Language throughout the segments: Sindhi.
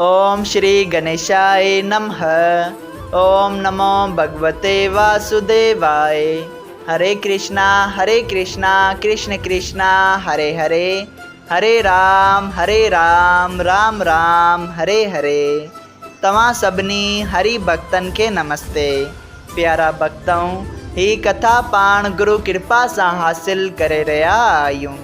اوم شري گنيشائي نمه اوم نمو ڀڳوتي واسوديواء هري ڪرشنا هري ڪرشنا ڪرشن ڪرشنا هري هري هري رام هري رام رام رام هري هري توهان سڀني هري ڀڳتن کي نمستي پيارا ڀڳتؤ هي ڪٿا پاڻ گرو ڪرپا سان حاصل ڪري رهيا آهيون.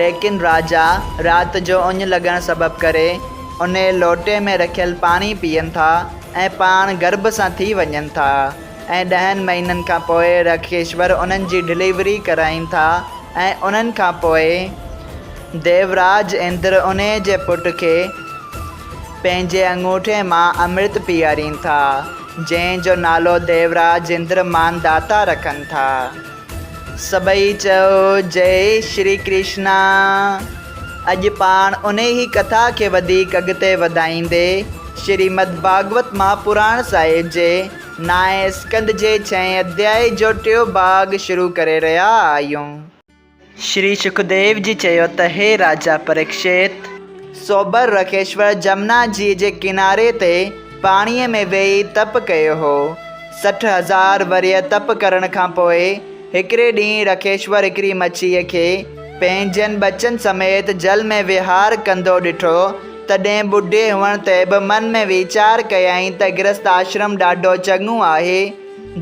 ليڪن راجا رات جو اڃ لڳڻ سبب ڪري انهي لوٽي ۾ رکيل پاڻي پيئن ٿا ۽ پاڻ گرڀ سان ٿي وڃن ٿا ۽ ڏهن مهينن کان پوء رکيشور انهن جي ڊليوري ڪرائين ٿا ۽ انهن کان پوء ديوراج اندر انهي جي پٽ کي پنهنجي اڱوٺي مان امرت پيئارين ٿا جنهن جو نالو ديوراج اندر مانداتا رکن ٿا. سڀئي چئو جئي شري ڪرشنا. اڄ پاڻ انهي ڪٿا کي وڌيڪ اڳتي وڌائيندي شريمد ڀاڳوت مهاپراڻ صاحب جي نائين اسڪنڌ جي ڇهين اڌيائي جو ٽيون ڀاڳ شروع ڪري رهيا آهيون. شري شڪديو جي چيو ته هي راجا پريڪشيت! سوبر رڪيشور جمنا جي جي ڪناري تي پاڻيء ۾ ويهي تپ ڪيو هو. سٺ هزار ورهيه تپ ڪرڻ کان پوء هڪڙي ڏينهن رڪيشور هڪڙي مڇيء کي پنهنجن ٻچن سميت جل ۾ وهار ڪندو ڏٺو، تڏهن ٻڍي هئڻ تي به من ۾ ويچار ڪيائين ته گرهست آشرم ڏاڍو چڱو آهي،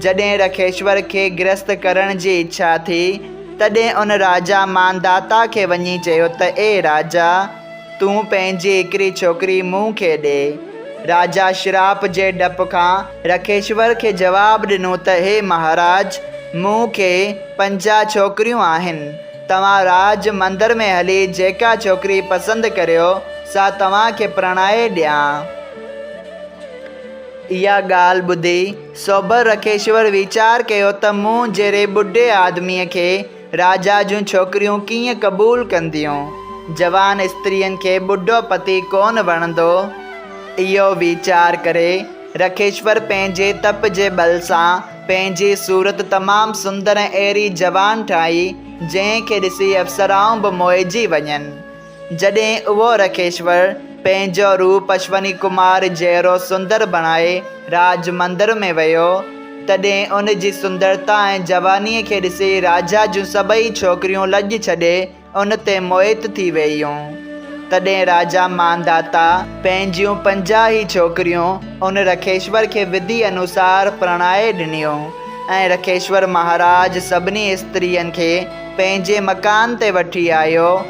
جڏهن رکيشور کي گرهست ڪرڻ جي اڇا ٿي، تڏهن ان راجا مانداتا کي وڃي چيو ته اي راجا! تون پنهنجي هڪڙي ڇوڪري مون کي ڏي. راجا شراپ جي ڊپ کان رکيشور کي جواب ڏنو ته هي مهاراج! مون کي پنجاهه ڇوڪريون آهن. توهان راج مندر ۾ هلي جيڪا ڇوڪري پسند ڪريو، سا توهان کي پرڻائي ڏيان. اها ڳالهه ٻڌي سوڀر رکيشور ويچار ڪيو ته مون جهڙي ٻڍي آدميء کي راجا جون ڇوڪريون ڪيئن قبول ڪنديون؟ جوان استرين کي ٻڍو پتي ڪونه وڻندو. اهو ويچار ڪري رکيشور پنهنجي تپ جي ٻل سان پنهنجي صورت تمام سندر ۽ اهڙي جوان ٺاهي، جنهن کي ڏسي اپسرائون به موهجي وڃن. جڏهن اهو رکيشور پنهنجو روپ اشوني ڪمار جهڙو سندر بڻائي راج مندر ۾ ويو، تڏهن ان جي سندرتا ۽ جوانيء کي ڏسي راجا جون سڀئي ڇوڪريون لڄ ڇڏي ان تي موهت ٿي وييون. تڏهن راجا مانداتا پنهنجيون پنجاهه ئي ڇوڪريون ان رکيشور کي وڌي انوسار پرڻائي ڏنيون ۽ رکيشور مهاراج سڀني استرين کي پنهنجي مڪان تي وٺي آيو،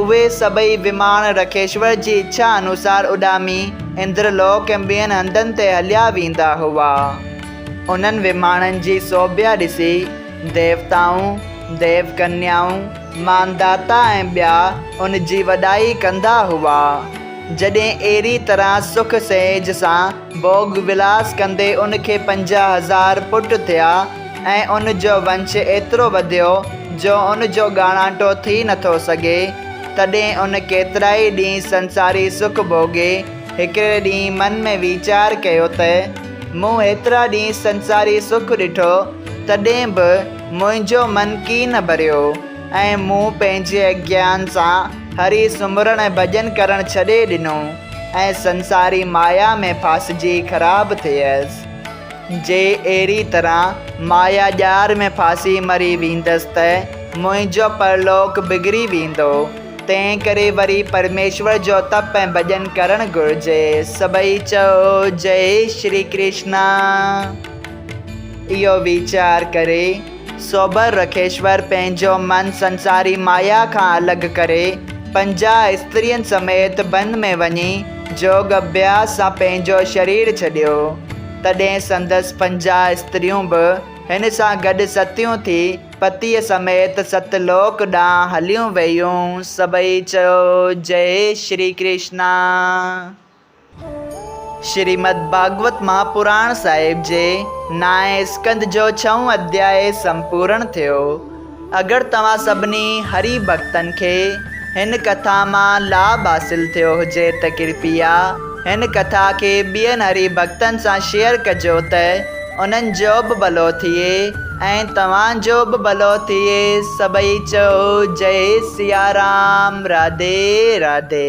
اهي سڀئي وماڻ رکيشور جي اڇا انوسار اڏامي اندر لوڪ ۽ ٻين هنڌن تي هليا ويندا هئا. انهن وماڻن جي سوڀيا ڏسي ديوتائون، ديو ڪنيائون، مانداتا ۽ ٻيا ان جي وڏائي ڪندا هئا. جڏهن اهڙي طرح سک سهيج سان ڀوڳ ولاس ڪندي ان کي پنجاهه هزار پٽ ٿيا ۽ ان جو ونش ايترو وڌيو جو ان جو ڳاڻاٽو ٿي نٿو سگهي. تڏهن ان ڪيترائي ڏينهن سنساري سک ڀوڳي هڪڙي ڏينهن من ۾ ويچار ڪيو ته، مون هيترا ڏينهن سنساري سک ڏٺو تڏهن به منهنجو من ڪي نه ڀريو ۽ مون پنهنجي اگيان سان هري سمرڻ ۽ ڀڄن ڪرڻ ڇڏي ڏنو. ۽ سنساري مايا ۾ ڦاسجي خراب ٿئيس، جي اهڙي طرح مايا ڄار ۾ ڦاسي مري ويندس ته منهنجو پرلوڪ بگڙي ويندو، تنهن ڪري وري پرميشور جو تپ ۽ ڀڄن ڪرڻ گهرجي. سڀئي چئو جئي شري ڪرشنا. اهو ويچار ڪري. سوبر رکيشور پنهنجو من سنساري مايا کان الڳ ڪري، پنجاهه استرين سميت بن ۾ وڃي جوڳ اڀياس سان پنهنجو شرير ڇڏيو. تڏهن سندس پنجاهه استريون به هن سان گڏ ستيون ٿي پتيء سميت ست لوڪ ڏانهن هليون ويون. سڀئي چيو جئي شري ڪرشنا. شريمد ڀاڳوت مهاپراڻ صاحب جي نائين اسڪنڌ جو ڇهون اڌياء سمپورڻ ٿيو. اگر توهان سڀني هري ڀڳتن کي هن ڪٿا مان لاڀ حاصل ٿيو هجي ته ڪرپيا هن ڪٿا کي ٻين هري ڀڳتن سان شيئر ڪجو ته انهن جو به ڀلو ٿئي ۽ توهان جو به ڀلو ٿئي سڀئي چئو جئي سيارام راڌي راڌي.